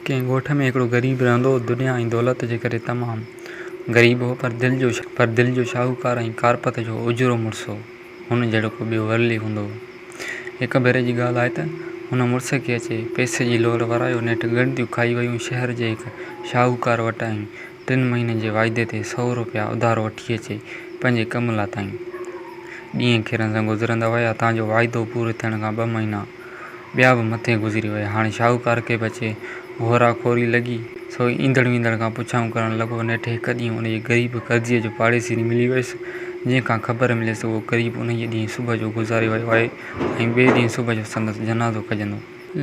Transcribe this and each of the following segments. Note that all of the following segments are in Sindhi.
ڪنهن ڳوٺ ۾ هڪڙو غريب رهندو هو، دنيا ۽ دولت جي ڪري تمام غريب هو، پر دل جو پر دل جو شاهوڪار ۽ ڪارپت جو اجرو مڙس هو، هن جهڙو ڪو ٻيو ورلي هوندو هو. هڪ ڀيري جي ڳالهه آهي ته هن مڙس کي اچي پئسي جي لوڙ ورايو، نيٺ ڳڻتيون کائي ويون، شهر جي هڪ شاهوڪار وٽ ۽ ٽن مهينن جي واعدي تي سؤ روپيا اڌار وٺي اچي پنهنجي ڪم لاتائين. ڏينهن کيرن سان گذرندا ويا، تان جو واعدو پورو ٿيڻ کان ٻه مهينا. ٻيا به مٿي گذري ويا. هاڻي شاهوڪار کي به اچي هورا کوري لڳي، سو ايندڙ ويندڙ کان پڇائون ڪرڻ لڳو. نيٺ هڪ ڏينهن انهيء غريب قرضيء جو پاڙيسري ملي ويس، جنهن کان خبر مليس ته اهو غريب انهيء ڏينهن صبح جو گذاري ويو آهي ۽ ٻئي ڏينهن صبح جو سندس جنازو کڄندو.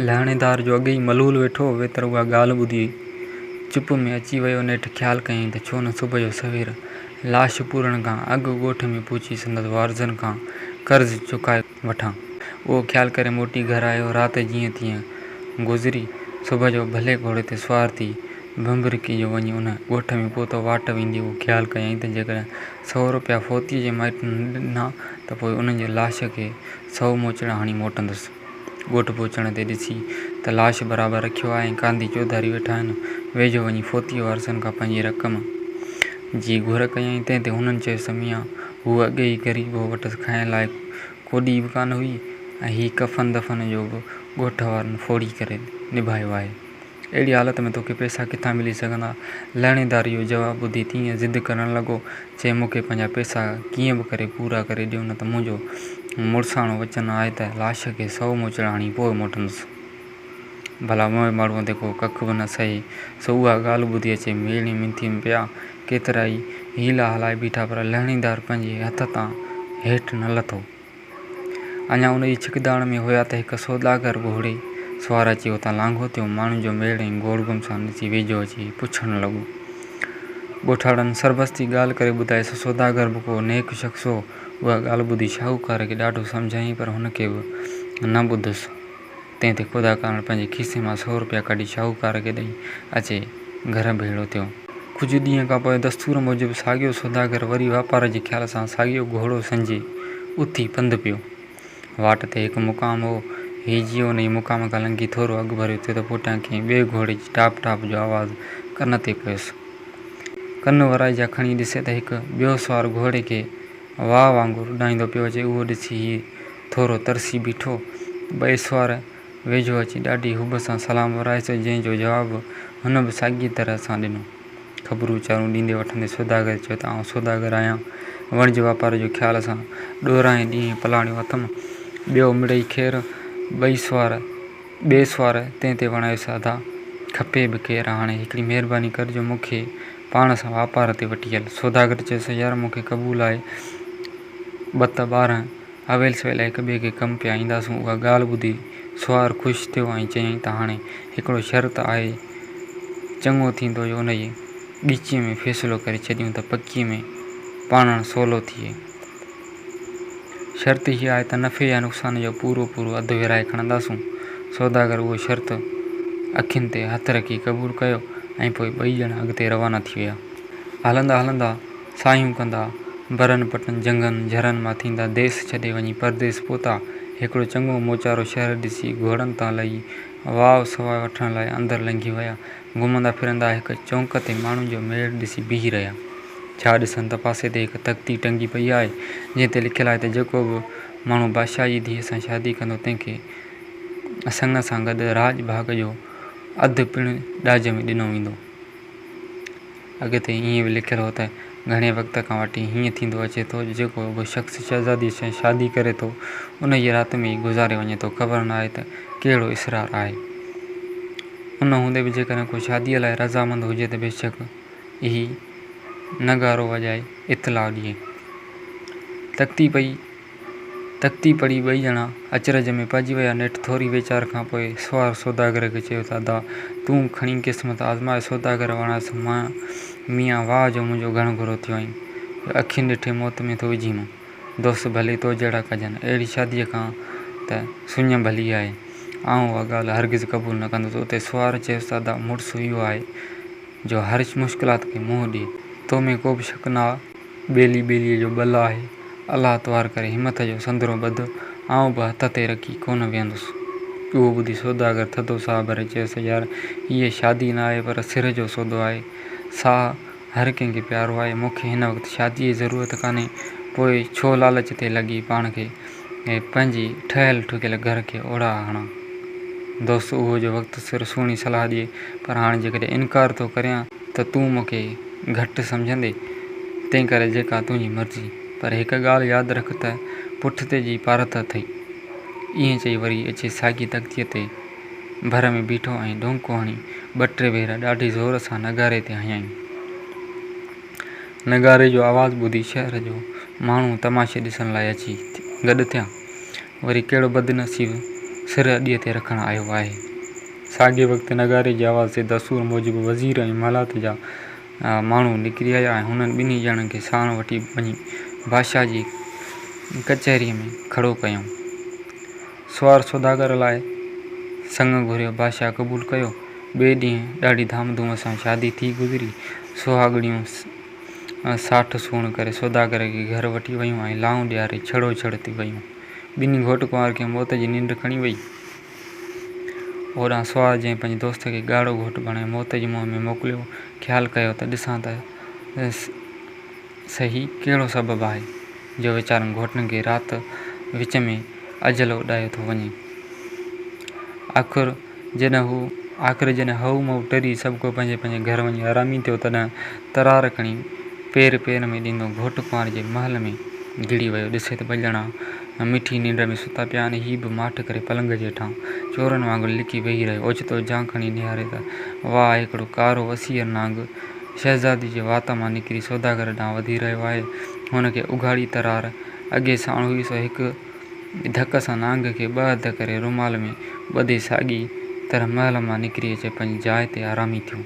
لهڻيدار جو اڳيئي ملول ويٺو هو، ويتر اها ڳالهه ٻڌي چپ ۾ اچي ويو. نيٺ خيال ڪيائين ته ڇو نه صبح جو سوير لاش پورڻ کان اڳ ڳوٺ ۾ پهچي سندس وارثن کان قرض چڪائي. وٺان. اهو خيال ڪري موٽي گهر آيو. رات جيئن تيئن گذري. صبح جو ڀلي گهوڙي تي سوار ٿي ڀنڀرڪي جو وڃي ان ڳوٺ ۾ پهتو. واٽ ويندي اهو خيال ڪيائين ته جيڪڏهن سؤ روپيا فوتيء جي مائٽن نه ڏنا ته پوء انهن جي لاش کي سؤ موچڙا هڻي موٽندس. ڳوٺ پهچڻ تي ڏسي ته لاش برابر رکيو آهي ۽ ڪانڌي چوڌاري ويٺا آهن. ويجهو وڃي فوتيء وارثن کان پنهنجي رقم جي گهر ڪيائين. تنهن تي هنن چيس ته ميان! هوء اڳي ئي غريب هو، وٽس کائڻ لاء ڪوڏي به ڪانه هئي ۽ هي ڪفن دفن جو به ڳوٺ وارن ڦوڙي ڪري نڀايو آهي. اهڙي حالت ۾ توکي پئسا ڪٿان ملي سگهندا؟ لهڻيدار اهو جواب ٻڌي تيئن ضد ڪرڻ لڳو، چي مون کي پنهنجا پئسا ڪيئن به ڪري پورا ڪري ڏيو نه ته منهنجو مڙساڻو وچن آهي ته لاش کي سؤ موچڙا هڻي پوء موٽندس. ڀلا اوهان به ماڙهوء تي ڪو ڪک به نه سهي، سو اها ڳالهه ٻڌي اچي ميڙي منٿيء ۾ پيا ڪيترا ئي حيلا هلائي بيٺا پر لهڻيدار پنهنجي هٿ تان هيٺ نه لٿو. اڃا ان جي ڇڪداڻ ۾ هيا ته هڪ سوداگر گهوڙي سوار اچي اتان لانگهو ٿيو، ماڻهن جو ميڙ ۽ گوڙ گم سان ڏسي ويجهو اچي پڇڻ لڳو. ڳوٺاڻن سربستي ڳالهه ڪري ٻڌائي، سو سوداگر به ڪو نيڪ شخص هو، اها ڳالهه ٻڌي شاهوڪار کي ڏاڍو سمجهايائين پر هن ڪي به نه ٻڌس. تنهن تي خدا ڪارڻ پنهنجي کيسي مان سؤ روپيا ڪڍي شاهوڪار کي ڏئي اچي گهر ڀيڙو ٿيو. ڪجهه ڏينهن کان پوء دستور موجب ساڳيو سوداگر وري واپار جي خيال سان ساڳيو گهوڙو سنجي اٿي پنڌ پيو. واٽ تي هڪ مقام هو. هي جيئن ان ئي مقام کان لنگهي ٿورو اڳڀريو ٿيو ته پوٽيان ڪنهن ٻئي گهوڙي جي ٽاپ ٽاپ جو آواز ڪن تي پيس. ڪن ورائجا کڻي ڏسي ته هڪ ٻيو سوار گهوڙي کي واء وانگر اڏاميندو پيو اچي. اهو ڏسي هي ٿورو ترسي بيٺو. ٻئي سوار ويجهو اچي ڏاڍي حب سان سلام ورايس، جنهن جو جواب هن به ساڳيء طرح سان ڏنو. خبرون چارون ڏيندي وٺندي سوداگر چيو ته آئون سوداگر آهيان، وڻج واپار جو خيال سان ڏورانهين ڏينهن پلاڻيو اٿم، ٻيو مڙئي خير. ٻئي سوار ٻئي سوار تنهن تي وڻايس، ادا! کپي به خير، هاڻي هڪڙي مهرباني ڪر جو مون کي پاڻ سان واپار تي وٺي هل. سوداگر چيس، يار مون کي قبول آهي، ٻه ته ٻارنهن. اويل سويل هڪ ٻئي کي ڪم پيا اينداسون اها ڳالهه ٻڌي سوار خوش ٿيو ۽ چيائين ته هاڻي هڪڙو شرط آهي چڱو ٿيندو جو ان جي ڳچيء ۾ فيصلو ڪري ڇڏيون ته پڪيء ۾ پاڻڻ سولو ٿئي. شرط هيء آهي ته نفعي يا نقصان جو پورو پورو اڌ ورهائي کڻنداسون. سوداگر اهو شرط اکين تي هٿ رکي قبول ڪيو ۽ پوء ٻئي ڄڻا اڳتي روانا ٿي ويا. هلندا هلندا ساهيون ڪندا، برن پٽن، جهنگن، جهرن مان ٿيندا ديس ڇڏي وڃي پرديس پهتا. هڪڙو چڱو موچارو شهر ڏسي گهوڙن تان لهي واء سواء وٺڻ لاء اندر لنگهي ويا. گهمندا ڦرندا هڪ چونڪ تي ماڻهن جو ميڙ ڏسي بيهي رهيا. ڇا ڏسن ته پاسي تي هڪ تختي ٽنگي پئي آهي، جنهن تي لکيل آهي ته جيڪو به ماڻهو بادشاهه جي ڌيء سان شادي ڪندو تنهن کي سڱ سان گڏ راڄ ڀاڳ جو اڌ پڻ ڏاج ۾ ڏنو ويندو. اڳتي ائين به لکيل هو ته، گهڻي وقت کان وٺي هيئن ٿيندو اچي ٿو، جيڪو به شخص شهزاديء سان شادي ڪري ٿو، ان جي رات ۾ ئي گذاري وڃي ٿو، خبر ناهي ته ڪهڙو اسرار آهي. ان هوندي به جيڪڏهن ڪو شاديء لاء رضامند هجي ته بيشڪ اهي نغارو وڄائي اطلاع ڏئي. تڪتي پئي تختي پڙهي ٻئي ڄڻا اچرج ۾ پئجي ويا. نيٺ ٿوري ويچار کان پوء سوار سوداگر کي چيو ته ادا! تون کڻي قسمت آزماء. سوداگر وڻايس مئن، ميان واهه جو منهنجو گهڻ گهرو ٿيو آهين. جو اکين ڏٺي موت ۾ ٿو وجهين مون. دوست ڀلي تو جهڙا ڪجن. اهڙي شاديء کان ته سڃ ڀلي آهي. آئون اها ڳالهه هرگز قبول نه ڪندس. اتي سوار چيس ته ادا! مڙس اهو آهي جو هر مشڪلات کي منهن ڏي. تو ۾ ڪوبه شڪ نه آ. ٻيلي ٻيليء جو ٻل آهي. الله توهر ڪري همٿ جو سندرو ٻڌ، آئون به هٿ تي رکي ڪونه ويهندس. اهو ٻڌي سوداگر ٿڌو ساهه ڀري چيس، يار، هيء شادي نه آهي، پر سر جو سودو آهي. ساهه هر ڪنهن کي پيارو آهي. مون کي هن وقت شاديء جي ضرورت ڪانهي، پوء ڇو لالچ تي لڳي پاڻ کي ۽ پنهنجي ٺهيل ٺڪيل گهر کي اوڙاها هڻان. دوست اهو جو وقت سر سهڻي صلاح ڏئي، پر هاڻي جيڪڏهن انڪار ٿو ڪريان، ته تون مون کي گهٽ سمجهندي، تنهن ڪري جيڪا تنهنجي مرضي. پر هڪ ڳالهه ياد رک ته پٺتي جي پارت اٿئي. ائين چئي وري اچي ساڳي تختيء تي ڀر ۾ بيٺو ۽ ڍونڪو هڻي ٻه ٽي ڀيرا ڏاڍي زور سان نغاري تي هنيائين. نغاري جو آواز ٻڌي شهر جو ماڻهو تماشي ڏسڻ لاء اچي گڏ ٿيا. وري ڪهڙو بدنصيب سر اڏيء تي رکڻ آيو آهي. ساڳئي وقت نغاري جي آواز تي دستور موجب وزير ۽ محلات جا ماڻهو نڪري آيا ۽ هنن ٻنهي ڄڻن کي ساڻ وٺي وڃي بادشاهه جي ڪچهريء ۾ کڙو ڪيائون. سوار سوداگر لاء سڱ گهريو، بادشاهه قبول ڪيو. ٻئي ڏينهن ڏاڍي ڌام ڌوم سان شادي ٿي گذري. سهاڳڻيون ساٺ سوڻ ڪري سوداگر کي گهر وٺي ويون ۽ لانء ڏياري ڇڙو ڇڙ ٿي ويون. ٻنهي گهوٽ ڪنوار کي موت جي ننڊ کڻي وئي. هوڏانهن سوار جنهن پنهنجي دوست کي ڳاڙهو گهوٽ بڻائي موت جي منهن ۾ موڪليو، خيال ڪيو ته ڏسان ته سهي ڪهڙو سبب آهي جو ويچارن گهوٽن کي رات وچ ۾ اجل اڏايو ٿو وڃي. آخر جڏهن هئو مئو ٽري سڀڪو پنهنجي پنهنجي گهر وڃي آرامي ٿيو تڏهن ترار کڻي پير پير ۾ ڏيندو گهوٽ ڪنواري جي محل ۾ گهڙي ويو ڏسي ته ٻه ڄڻا مٺي ننڊ ۾ ستا پيا آهن. هي به ماٺ ڪري پلنگ جي هيٺان چورن وانگر لڪي ويهي رهيو. اوچتو جان کڻي نهاري ته واهه! هڪڙو ڪارو وسيع نانگ شهزادي جي وات مان نڪري سوداگر ڏانهن وڌي رهيو آهي. هن کي اگهاڙي ترار اڳي ساڻ هئي سو هڪ ڌڪ سان نانگ کي ٻه اڌ ڪري رومال ۾ ٻڌي ساڳي طرح محل مان نڪري اچي پنهنجي جاء تي آرامي ٿيو.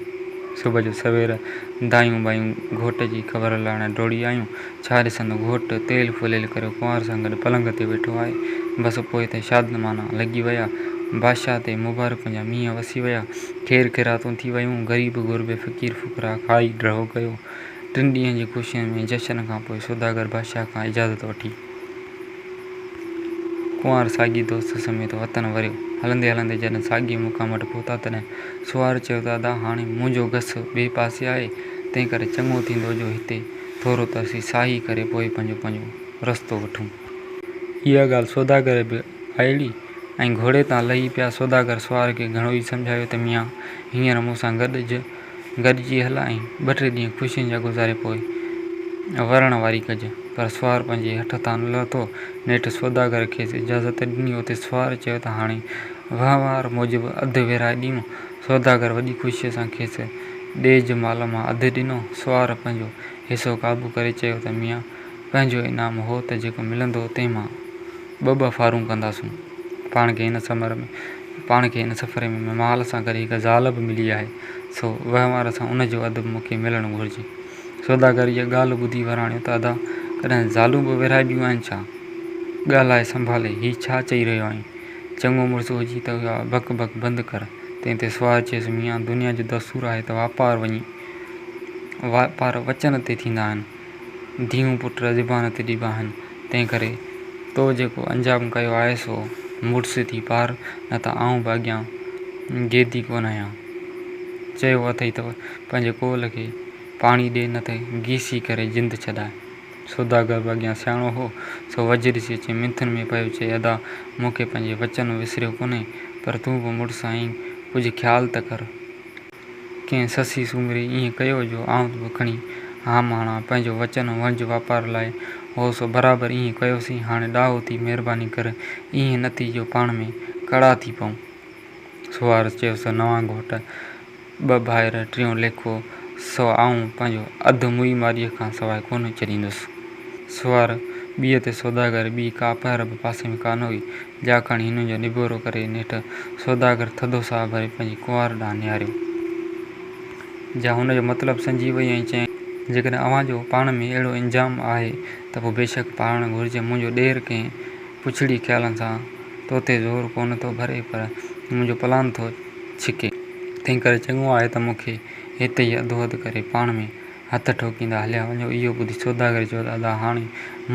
صبح جو سوير دايون ٻايون گهوٽ جي خبر لاڻ ڊوڙي آيون. ڇا رسندو گهوٽ تيل ڦوليل ڪريو ڪنوار سان گڏ پلنگ تي ويٺو آهي. بس پوء ته شادمانا لڳي ويا. بادشاهه تي مبارڪن جا مينهن وسي ويا. خير خيراتون ٿي ويون. غريب غربي فقير فقراء کائي ڊهو ڪيو. ٽن ڏينهن جي خوشين ۾ جشن کان پوء سوداگر بادشاهه کان اجازت وٺي ڪنوار ساڳي دوست سميت وطن وريو. هلندي هلندي جڏهن ساڳي مقام وٽ پهتا تڏهن سوار چيو ته ادا هاڻي منهنجو گس ٻئي پاسي آهي تنهنڪري چڱو ٿيندو جو هتي ٿورو ته اسين ساهي ڪري پوء پنهنجو پنهنجو رستو وٺون. اها ڳالهه سوداگر به آئڙي ۽ گهوڙي تان لهي پيا. سوداگر سوار کي گهڻو ئي سمجهايو ته ميان هينئر مون سان گڏج، گڏجي هل ۽ ٻه ٽي ڏينهن خوشين جا گذاري پوء ورڻ واري ڪج. پر سوار پنهنجي هٺ تان نه لٿو. نيٺ سوداگر کيس اجازت ڏني. اتي سوار چيو ته هاڻي وهنوار موجب اڌ ويرهائي ڏيون. سوداگر وڏي خوشيء سان کيس ڏيج مال مان اڌ ڏنو. سوار پنهنجو حصو قابو ڪري چيو ته ميان، پنهنجو انعام هو ته جيڪو ملندو تنهن مان ٻه ٻه ڦارون ڪنداسون. پاڻ کي هن سمر ۾ پاڻ کي هن سفر ۾ مال سان گڏ هڪ زال به ملي آهي، سو وهنوار سان ان جو اڌ به مون کي ملڻ گهرجي. سوداگر اها ڳالهه ٻڌي وراڻيو ته ادا، ڪڏهن زالون به ورهائبيون آهن ڇا؟ ڳالهائي سنڀالي، هي ڇا چئي رهيو آهين؟ چڱو مڙس هجين ته اها بڪ بڪ بند ڪر. تنهن تي سوار چيس، ميان، دنيا جو دستور آهي ته واپار وڃي واپار وچن تي ٿيندا آهن. ڌيئون پٽ زبان تي ڏبا آهن. تنهن ڪري تو جيڪو انجام ڪيو آهي سو مڙس ٿي پار نه ته آئون به اڳيان گيدي ڪونه آهيان. چيو اٿئي ته پنهنجي ڪول کي پاڻي ڏي نه ته گيسي ڪري جند ڇڏاء. سوداگر به اڳيان سياڻو هو، سو وجهري سي اچي منٿن ۾ پيو چئي، ادا! مون کي پنهنجي وچن وسريو ڪونهي، پر تون به مڙس آهين، ڪجهه خيال ته ڪر. ڪنهن سسئي سومري ائين ڪيو جو آئون به کڻي هام هڻان، پنهنجو وچن ۽ وڻج واپار لاء هو، سو برابر ائين ڪيوسين، هاڻي ڏاهو ٿي مهرباني ڪر، ائين نه ٿي جو پاڻ ۾ ڪڙا ٿي پئون. سوارس چيو، سو نوان گهوٽ! ٻه ڀائر، ٽيون ليکو، سو آئون پنهنجو اڌ موئي مارئيء کان سواء ڪونه ڇڏيندس. سوار ٻيء تي سوداگر، ٻي ڪا پهر به پاسي ۾ ڪانه هئي، جا کڻي هنن جو نبيرو ڪري نيٺ سوداگر ٿڌو ساهه ڀري پنهنجي ڪنوار ڏانهن نهاريو. جا هن جو مطلب سمجهي وئي ۽ چيائين. جيڪڏهن اوهان جو پاڻ ۾ اهڙو انجام آهي ته پوء بيشڪ پاڙڻ گهرجي، منهنجو ڏير ڪنهن. پڇڙي خيالن سان تو تي زور ڪونه ٿو ڀري پر منهنجو پلان ٿو ڇڪي، تنهنڪري چڱو آهي ته مون کي هتي ئي اڌو اڌ ڪري پاڻ ۾ هٿ ٺوڪيندا هليا وڃو. اهو ٻڌي سوداگر چيو ته ادا هاڻي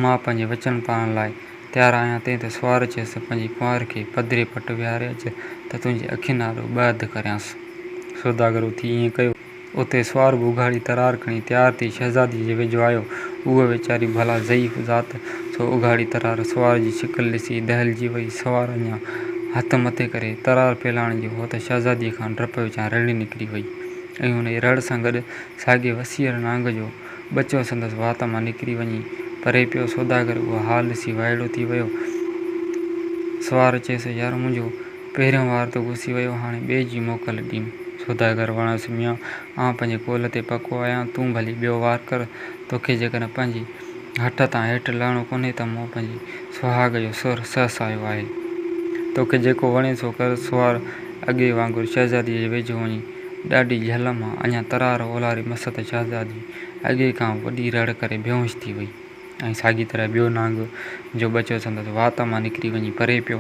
مان پنهنجي وچن پاڻ لاء تيار آهيان. تنهن تي سوار چيس ته پنهنجي ڪنوار کي پڌري پٽ ويهاري اچ ته تنهنجي اکين آڏو ٻه اڌ ڪريانس. سوداگر اٿي ائين ڪيو. اتي سوار ٻوگهاڙي ترار کڻي تيار ٿي شهزادي جي ويجهو آيو. هوء ويچاري ڀلا ضعيف ذات، سو اگهاڙي ترار سوار جي شڪل ڏسي دهلجي وئي. سوار اڃا هٿ مٿي ڪري ترار ڦيلاڻ جو هو ته شهزاديء کان ڊپ وچان رڙهي نڪري وئي ۽ ان ئي رڙ سان گڏ ساڳئي وسيهڙ نانگ جو ٻچو سندس وات مان نڪري وڃي پري پيو. سوداگر اهو حال ڏسي وائڙو ٿي ويو. سوار چيس، يار منهنجو! پهريون وار ته گسي ويو، هاڻي ٻئي جي موڪل ڏيم. سوداگر وڻيس، ميان! آئون پنهنجي قول تي پڪو آهيان، تون ڀلي ٻيو وار ڪر. توکي جيڪڏهن پنهنجي هٺ تان هيٺ لهڻو ڪونهي ته مون پنهنجي سهاڳ جو سر سهسايو آهي. توکي جيڪو وڻي سو ڪر. سوار اڳي وانگر شهزاديء جي ويجهو وڃي ڏاڍي جهل مان اڃا ترار اولاري مس ته شهزادي اڳي کان وڏي رڙ ڪري بيهوش ٿي وئي. ۽ ساڳيء طرح ٻيو نانگ، جو ٻچو سندس وات مان نڪري وڃي پري پيو،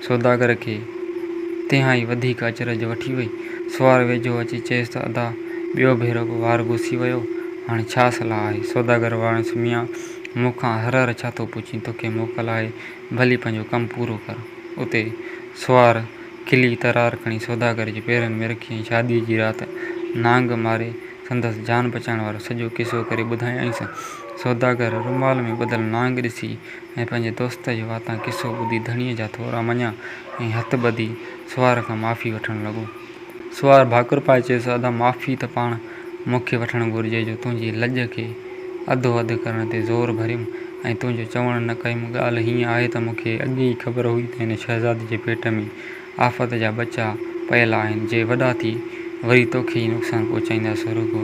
سوداگر کي تنهائي وڌيڪ اچرج وٺي وئي. سوار ويجهو اچي چيس ته ادا، ٻيو ڀيرو به وار گسي ويو، هاڻي ڇا صلاح آهي؟ سوداگر واڻيس ميان، مون کان هر هر ڇا ٿو پڇين، توکي موڪل آهي، ڀلي پنهنجو ڪم پورو ڪر. اتي سوار کلي ترار کڻي سوداگر جي پيرن ۾ رکي ۽ شاديء جي رات نانگ ماري، سندس جان بچائڻ وارو سڄو قصو ڪري ٻڌايائينس. سوداگر رومال ۾ ٻڌل نانگ ڏسي ۽ پنهنجي دوست جي واتان قصو ٻڌي ڌڻيء جا ٿورا مڃيا ۽ هٿ ٻڌي سوار کان معافي وٺڻ لڳو. سوار ڀاڪر پائي چيس، ادا معافي ته پاڻ مون کي وٺڻ گهرجي جو تنهنجي لڄ کي اڌو اڌ ڪرڻ تي زور ڀريم ۽ تنهنجو چوڻ نه ڪيم، ڳالهه هيئن آهي ته مون کي اڳي ئي خبر هئي ته هن شهزادي جي پيٽ ۾ آفت جا ٻچا پيل آهن جي وڏا ٿي وري توکي ئي نقصان پهچائيندا سو رڳو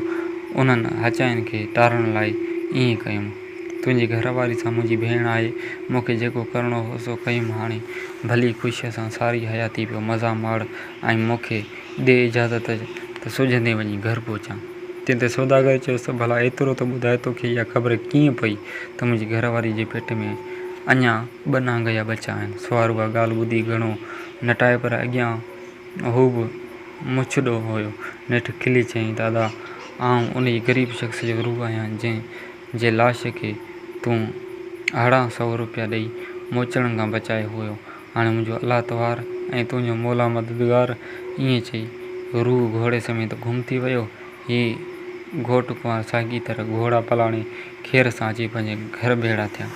انهن هچاين کي ٽارڻ لاء ائين ڪيم. تنهنجي گهر واري سان منهنجي ڀيڻ آهي مون کي جيڪو ڪرڻو هو سو ڪيم هاڻي ڀلي خوشيء سان ساري حياتي پيو مزا ماڻ ۽ مون کي ڏي اجازت ته سجهندي وڃي گهر پهچان. تنهن تي سوداگر چيس ته ڀلا ايترو ته ٻڌاء توکي اها خبر ڪيئن پئي ته منهنجي گهر واري جي پيٽ ۾ اڃا. ٻه نانگ جا ٻچا آهن. سوار اها ڳالهه ٻڌي گهڻو نٽايو پر اڳيان هو به مڇڏو هيو. نيٺ کلي چيائين ته ادا آئون ان غريب شخص جو روح آهيان جنهن جي لاش کي تون اهڙا سؤ روپيا ڏئي موچڙن کان بچايو هيو. هاڻي منهنجو الله توهار ۽ تنهنجو مولا مددگار ائين چئي روح گهوڙي سميت گم ٿي ويو. هي گهوٽ ڪنوار ساڳي طرح گهوڙا پلاڻي خير سان اچي پنهنجي گهر ڀيڙا ٿيا.